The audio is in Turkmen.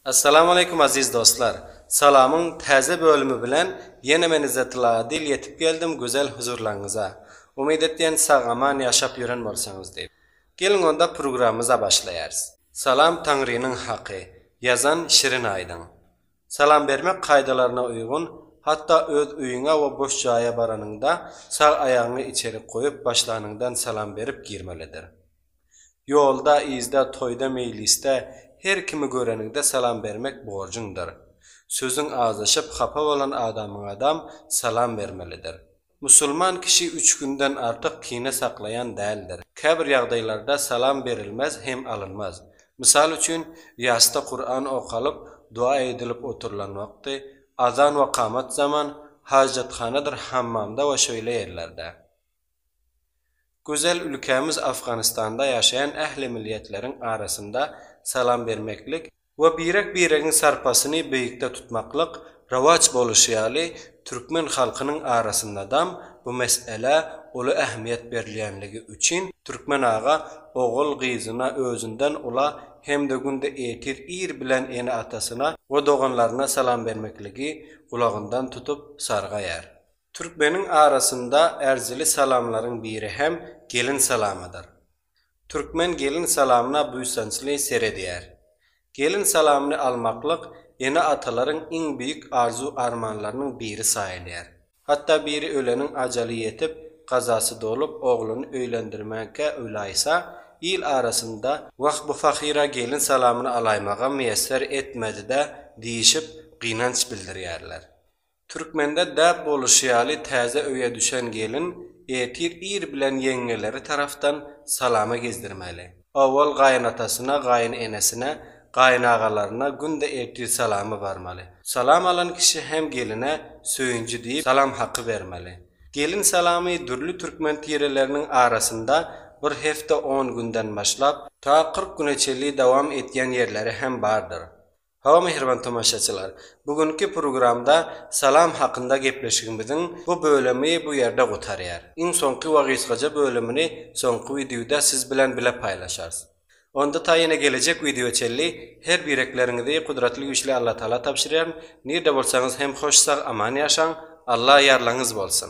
Assalamu aleykum aziz dostlar! Salamyň täze bölümi bilen ýene men Yzzatyllaga dil ýetip geldim gözel huzurlaryňyza. Umyt etýän sag aman ýaşap ýören bolsaňyz diýip. Geliň onda prugramymyza başlaýarys. Salam Taňrynyň haky. Ýazan Şirin Aýdyň. Salam bermek kaýdalaryna uýgun, hatda öz öýüňe we boş jaýa baranyňda sag aýagyňy içerik goýup başlanyňdan salam berip girmelidir. Ýolda, yzda, toýda, meýlisde, her kimi göreniňde salam bermek borjuňdyr. Sözüň azaşyp, hapa bolan adamyňadam salam bermelidir. Musulman kişi üç günden artyk kine saklaýan däldir. Käbir ýagdaýlarda salam berilmez hem alynmaz. Mysal üçin, ýasda Kuran okalyp, dua edilip oturylan wagty, azan we kamat zaman, hajathanadyr hammamda we şeýle ýerlerde. Gözel ülkämiz Afganistanda ýaşaýan ähli milliýetleriň arasynda salam bermeklik we birek-biregiň sarpasyny beýikde tutmaklyk rowaç boluşy ýaly, türkmen halkynyň arasyndadam bu mesele uly ähmiýet berilýänligi üçin türkmen aga ogul-gyzyna özünden ula hem-de günde ertir ir bilen ene-atasyna we doganlaryna salam bermekligi gulagyndan tutup sargaýar. Türkmeniň arasynda ärjili salamlaryň biri hem gelin salamydyr. Türkmen gelin salamyna buýsançly seredýär. Gelin salamyny almaklyk ene-atalaryň iň beýik arzuw-armanlarynyň biri saýylýar. Hatda biri öleniň ajaly ýetip, gazasy dolup, ogluny öýlendirmäge uýlaýsa, il arasynda, Wah, bu pahyr-a gelin salamyny alaýmaga miýesser etmedi-dä diýişip, gynanç bildirýärler. Türkmende däp boluşy ýaly täze öýe düşen gelin ertir ir bilen ýeňňeleri tarapdan salama gezdirmeli. Owal gaýynatasyna, gaýynenesine, gaýynagalaryna günde ertir salamy barmaly. Salam alan kişi hem geline Söýünji diýip salam haky bermeli. Gelin salamy dürli türkmen tireleriniň arasynda bir hepde on günden başlap, ta kyrk güne çenli dowam etýän ýerleri hem bardyr. Hawa mähriban tomaşaçylar, bu günki programda salam hakynda gepleşigimiziň bu bölemi bu ýerde gutarýar. Iň soňky we gysgaja bölümini soňky wideoda siz bilen bile paýlaşarys. Onda ta ýene gelejek wideoa çenli her birekleriňizi Gudratly Güýçli Allatagala tabşyrýaryn, nirde bolsaňyz hem hoş sag aman ýaşaň, Alla ýarlaňyz bolsun!